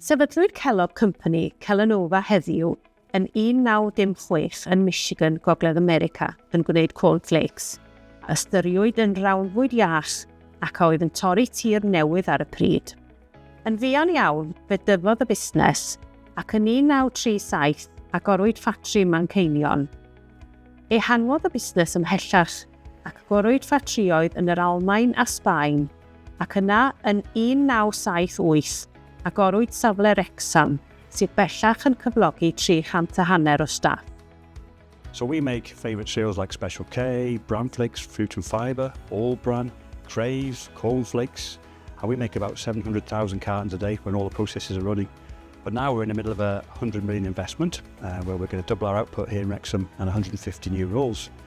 Sefydlwyd Kellogg Company, Kellanova heddiw, yn 1906 yn Michigan, Gogledd America, yn gwneud corn flakes, a ystyriwyd yn rawnfwyd iach ac a oedd yn torri tir newydd ar y pryd. Yn fuan iawn, fe dyfodd y busnes, ac yn 1937 agorwyd ffatri Manceinion. Ehangodd y busnes ymhellach ac gorwyd ffatrïoedd yn yr Almaen a Sbaen, ac yna yn 1978 agorwyd safle Wrecsam sydd bellach yn cyflogi 300 a hanner o staff. So we make favourite cereals like Special K, Bran Flakes, Fruit and Fibre, All Bran, Craves, Corn Flakes, and we make about 700,000 cartons a day when all the processes are running. But now we're in the middle of a 100 million investment uh, where we're going to double our output here in Wrexham and 150 new roles.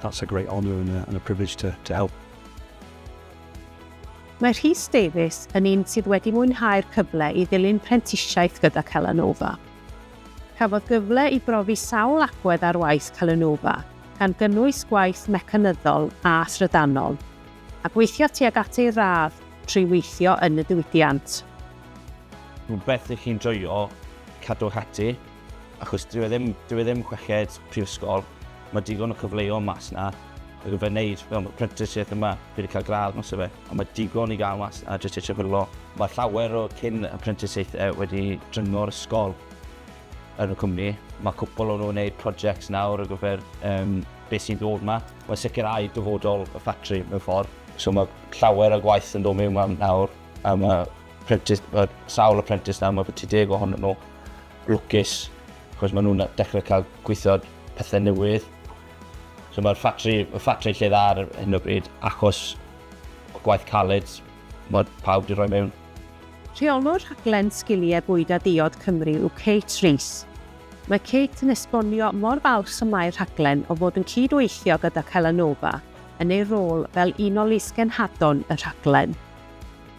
That's a great honour and a and a privilege to to help. Mae Rhys Davies yn un sydd wedi mwynhau'r cyfle i ddilyn prentisiaeth gyda Celanova. Cafodd gyfle i brofi sawl agwedd ar waith Celanova, gan gynnwys gwaith mecanyddol a thrydanol, a gweithio tuag at ei radd trwy weithio yn y diwydiant. Rhywbeth i chi'n joio, cadwch ati. achos dyw e ddim, dyw e ddim chweched prifysgol, mae digon o cyfleoedd mas na, ac fe wneud fel apprenticeship yma, fi wedi cael gradd mas o fe, ond mae digon i gael mas na jyst eisiau chwilio. Mae llawer o cyn apprenticeshiaethau wedi dringo'r ysgol yn y cwmni. Mae cwpl o'n nhw'n gwneud projects nawr o gyfer um, beth sy'n dod yma. Mae sicrhau dyfodol y ffatri mewn ffordd. So mae llawer o gwaith yn dod mewn nawr, a mae Prentis, mae sawl o prentis nawr, mae bwyty deg ohonyn nhw lwcus, chos maen nhw'n dechrau cael gweithio pethau newydd. So mae'r ffatri, y ffatri lle dda ar hyn o bryd, achos o gwaith caled, mae pawb wedi rhoi mewn. Rheolwr rhaglen Sgiliau Bwyd a Diod Cymru yw Kate Rees. Mae Kate yn esbonio mor falch y mae'r rhaglen o fod yn cyd-weithio gyda Celanova yn ei rôl fel un o lys-genhadon y rhaglen.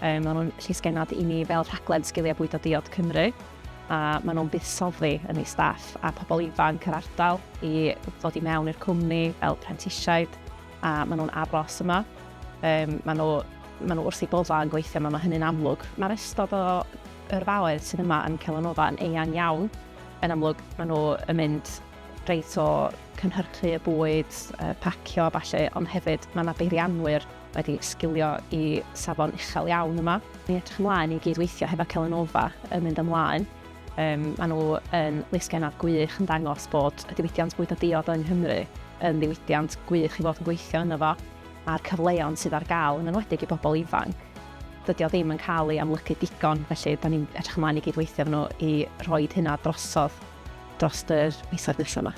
Mae nhw'n llysgennad i ni fel rhaglen Sgiliau Bwydo Diod Cymru a maen nhw'n buddsoddi yn ei staff a pobl ifanc yr ardal i ddod i mewn i'r cwmni fel prentisiaid a maen nhw'n aros yma. Um, maen nhw, maen nhw wrth ei boddau yn gweithio yma, mae hynny'n amlwg. Mae'r ystod o yrfaoedd sydd yma yn Celanova yn eang iawn. Yn amlwg, maen nhw yn mynd reit o cynhyrchu y bwyd, pacio a falle, ond hefyd mae yna beirianwyr wedi sgilio i safon uchel iawn yma. Ni'n edrych ymlaen i gyd-weithio hefo Celanova yn mynd ymlaen. Yym, maen nhw yn lysgennad gwych yn dangos bod y diwydiant bwydo diod yng Nghymru yn ddiwydiant gwych i fod yn gweithio ynddo fo, a'r cyfleon sydd ar gael, yn enwedig i bobl ifanc, dydy o ddim yn cael ei amlygu digon, felly da ni'n edrych ymlaen i gyd-weithio efo nhw i roi hynna drosodd dros yr misoedd nesaf yma.